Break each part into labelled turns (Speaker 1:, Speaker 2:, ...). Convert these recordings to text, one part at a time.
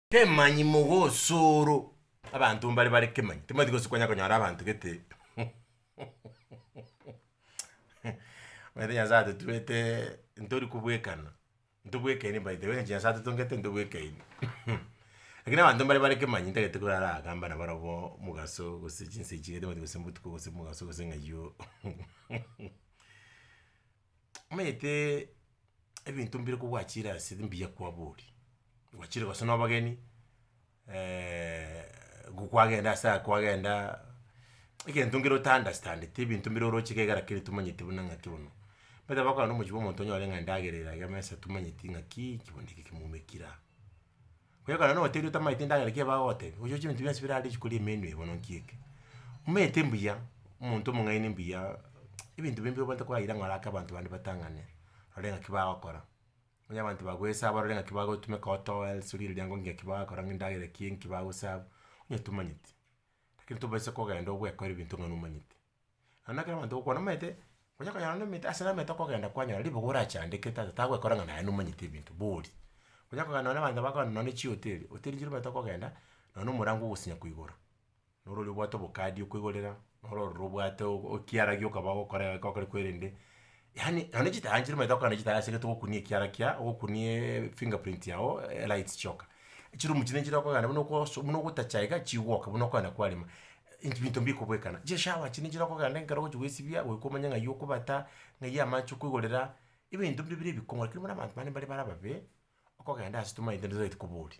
Speaker 1: Kemanyi mogosoro abanto mbare bare kemanyi timanyeti gose kwanya konyora abanto gete omanyete nyasaye atotuete ntori kobwekana ntobwekaine by the way engine nyasaye atotongete ntobwekaine lakini abanto mbare bare kemanyi ntagete korara agamba nabarabwo mogaso gose chinsa echi gete omanyete gose mbotuko gose mogaso gose ng'ai oo omanyete ebinto mbire kogwachire ase mbuya kwaboria, gwachire gose na abageni nigo kwagenda ase aya kwagenda, egento nkere ota understandeti ebinto mbire oroche iga egera kere tomanyeti buna ng'aki bono. Omanyete abakogenda na omochiie bwa omonto onyore ng'a endagera erage mesa tomanyeti ng'akii, eki bono ekio kemwaumekire aa. Kwegora notebi otamaete endagera ki bagotebia, ochi oche ebinto bionsi birare rituko ria emeeri eye bono nki eke. Omanyete mbuya, omonto omong'aini mbuya ebinto bire mbiogo ntokoraire ng'a orake abanto bande batang'ane, barore ng'aki bagokora. Onye abanto bagoesaba orore ng'aki bagotumeka otoe ase rire riango onye ng'aki bagokora ng'a endagera ki enki bagosaba, onye tomanyeti. Lakini tobisa kogenda ogoekora ebinto ng'a nomanyeti. Naende ekero abanto bagokwana omanyete, onya konya naende omanyete ase namanyete okogenda kwanyora ribogo orachandekete aye tagwekora ng'a naye nomanyete ebinto bori. Onya kogenda nonye na abanto bakorana nonye na chihoteli, hoteli chire omanyete okogenda, nonye na omorango ogosinya koigoro, norore obwate obokadi okoigorera, norore obwate o- o- ekiara gioka bagokora egekogera korende. Yaani nonya chitaaya nchire omanyete gokora na chitaaya ase egento ogokunia ekiara kia, ogokunia eeh finger print yago elights chioka. Echirumu chinde nchire okogenda buna okoso buna ogotacha iga chigwoka buna okogenda kwarema inch binto mbikobwekana. Chishower chinde nchire okogenda ekero ogochia goesibia goika omanye ng'ai okobata, ng'ai amache okoigorera, ebinto mbiria bire ebikong'u lakini buna abanto bande mbare bare ababe, okogenda ase tomaete nde totagete koboria.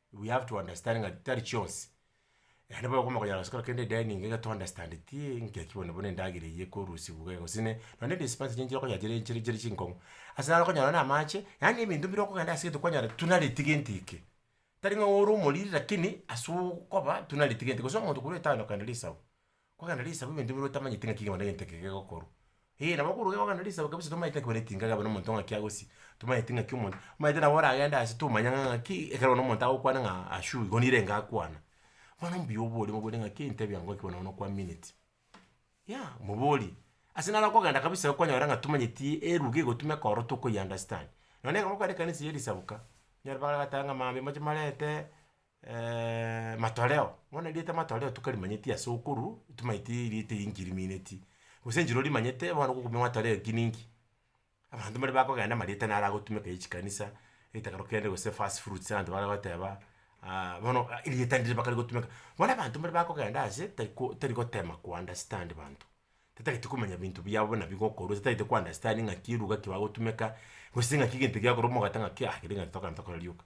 Speaker 1: We have to understand ng'a tari chionsi, naende bono okoboko konyara gose korokende edeni iga iga to understand ti engaki bono buna endagera eye ekorusiwu iga iga gose ne nonye ne dispense chinchera okonya chire chire chire chinkong'u, ase naro okonyora nonye na amache, yaani ebinto bire okogenda ase egento kwanyora tuna ritigenti eke, tari ng'a ore omoriri lakini ase okoba tuna ritigenti gose omonto korwa etown okenda risagu. Kogenda risagu ebinto bire otamanyeti ng'aki kegima na egento eke gegokorwa. Eeh nabo okoruga iga ogenda risagu kabisa tomanyeti ng'aki koreti ingaga abe na omonto ng'aki agosie, tomanyeti ng'aki omonto omanyete nabo oragende ase tomanya ng'a ng'aki ekero one omonto agokwana ng'a ashu igo nere enga akwana. Bono mbuya obore mobwate ng'aki entebia yango ng'aki bono bono kwaminet. Yah moborie, ase naro okogenda kabisa iga kwanyora ng'a tomanyeti eruga egotuma ekorora tokoyi understand. Nonye ekero gokwana ekanisa ya risagu ka, onyore bagotae ng'a mambia moche marete, matoleo, bono erieta ya matoleo tokarimanyeti ase okorwa, tomanyeti erieta eye nki rimeneti, gose enchera orimanyete bono gokumia matoleo ki ninki, abanto mbare bakogenda amarieta naro agotumeka ya chikanisa, etakero kende gose first fruits abanto bare goteba bono erieta ndire bakare gotumeka. Bono abanto mbare bakogenda ase tari ko tari gotema ko understand banto, tatagete komanya binto biabo buna bigokorwa, tatagete ko understand ng'aki eruga ki bagotumeka, gose ng'aki egento giakorwa omogata ng'aki ah kere egento tokana tokora rioka.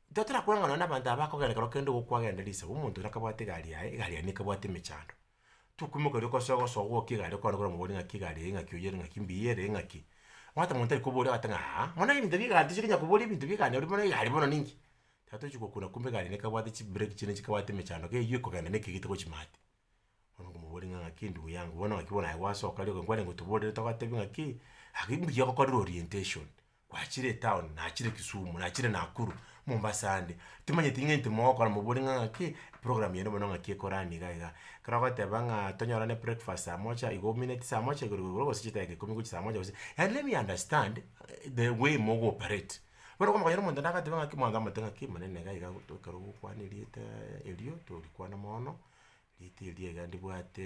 Speaker 1: Totera kweng'ana nabanto aba bakogenda ekero kende igo kwagenda risagu, omonto oria akabwate egari yaye, egari yaye nekebwate emechando. Tokwimoka riria okosoa gosoa gwokia egari okwane kore omogweri ng'aki egari eye ng'aki oyiere ng'aki mbuya ere ng'aki, omanyete omonto tari koboria ogoteba ng'a aa, mono ebinto bia egari tochia konya koboria ebinto bia egari bono egari bono ninki? Tiga tochi gokuna kumbe egari eye nekebwate chibreki chiane chikabwate emechando kei eywo ekogenda na ekegete gochia maate. Bono nkomobori ng'a ng'aki ndugu yangu bono ng'aki bono aye gwasoka rioka, nkwarenge otoborere togotebi ng'aki, gaki mbuya ogokorire orientation, gwachire etown, nachire kisumu, nachire nakuru, mombasa ande, timanyeti ng'a intwe mogokora mobore ng'a ng'aki program yane bono ng'aki ekorani iga iga. Ekero bagoteba ng'a tonyorane breakfast saa moja, igo omineti saa moja igoro igoro igoro gose chidaki ikomi gochia saa moja gose, yaani let me understand the way mogo operate. Bono okonyora omonto nagateba ng'aki mwanto amate ng'aki manene iga iga gotoka ekero ogokwana erieta erio torikwana mono, erieta erio iga ndibwate.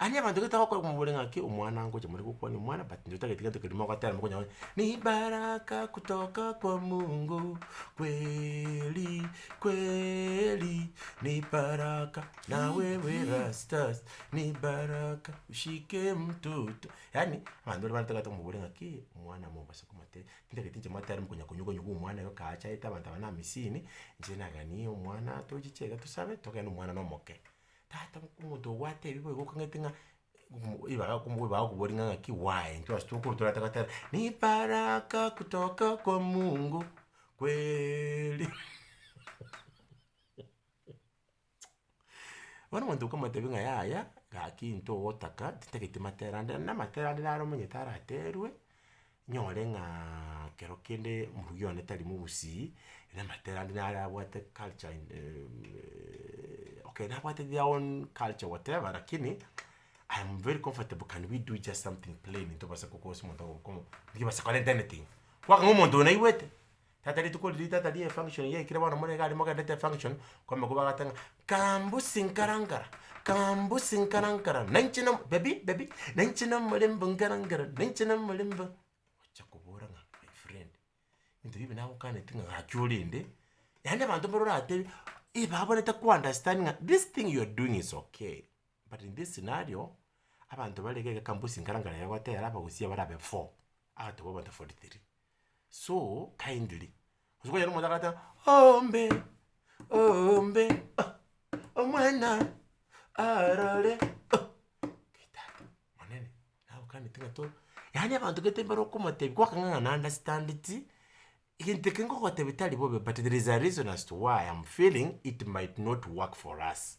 Speaker 1: Aria abanto gete bagokora komobori ng'a ki omwana ngocha more gokwania omwana but intwe totagete gento keria mogotera mokonye gokora ni baraka kutoka kwa mungu kweeeri kweeeri ni baraka na wewe rastas ni baraka ushike mtoto yaani abanto baria batagete komobori ng'a ki omwana mobaso komotera intagete inche motere mokonya konywa konywa kwa omwana iga kaachaete abanto aba na amisini inche naganie omwana tochiche iga tosabe togende omwana nomoke. Tata bwo omonto obwate ebi boigo okong'ete ng'a ribaga ribaga okobori ng'a ng'aki why intwe ase tokoro torataka goteba ni baraka kutoka kwa mungu kweeeeri bono omonto okomotebia ng'a yaya gaki intwe ogotaka titageti matera ande, namatera ande naro omonyete araterwe. Nyore ng'a kero kende morugi one tari mogusii, namatera ande nare abwate culture in okay nabwate their own culture whatever lakini I am very comfortable can we do just something plain ntobasa gokosa omonto ogo okomo ntibasa kore anything, kwang'a omonto oyo naigwete. Tata rituko riria tata rie function yaikire bono more iga aria mogenderete function, kwamokwa bagoteba ng'a kambusi nkara nkara, kambusi nkara nkara, nainche na baby baby, nainche na omorembe nkara nkara, nainche na omorembe, ogocha kobora ng'a my friend, ebinto bibe nagokaneti ng'a gaki orende, yaani abanto mbare oratebe eh babore taku understand ng'a this thing you are doing is okay, but in this scenario, abanto bare iga iga kambusi nkara nkara egotera abagusia barabe four, agatoba abanto forty three. so kindly gose kwanyora omonto agote ombe ombe oh omwana arore oh ngai tata monene nagokaneti ng'a to yaani abanto gete mbare okomotebia kwakang'ang'a na understandeti egento eke ngogotebia tari bobe but there is a reason as to why I am feeling it might not work for us.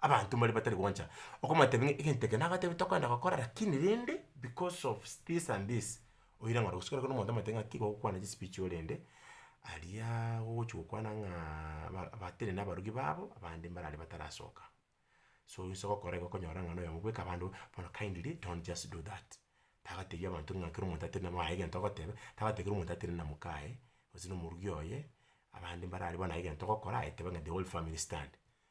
Speaker 1: abanto mbare batari gocha okobatebia ng'a egento eke nagotebi tokoenda gokora lakini rende because of this and this oira ng'a rogosio korokoro omonto omotebie ng'a tiga gokwana chispeech orende aria ogochia gokwana ng'aaaa ba batiri na abarugi babo abande mbarare batarasoka. So inse ogokora igo okonyora ng'a na oyomo bweka abande bono kindly don't just do that, tagatebia abanto ng'a kera omonto atari na moyo aye egento ogoteba, tagotebi kera omonto atari na moka aye, gose na omorugi oye, abande mbarare bono aye egento ogokora aye teba ng'a the whole family stand.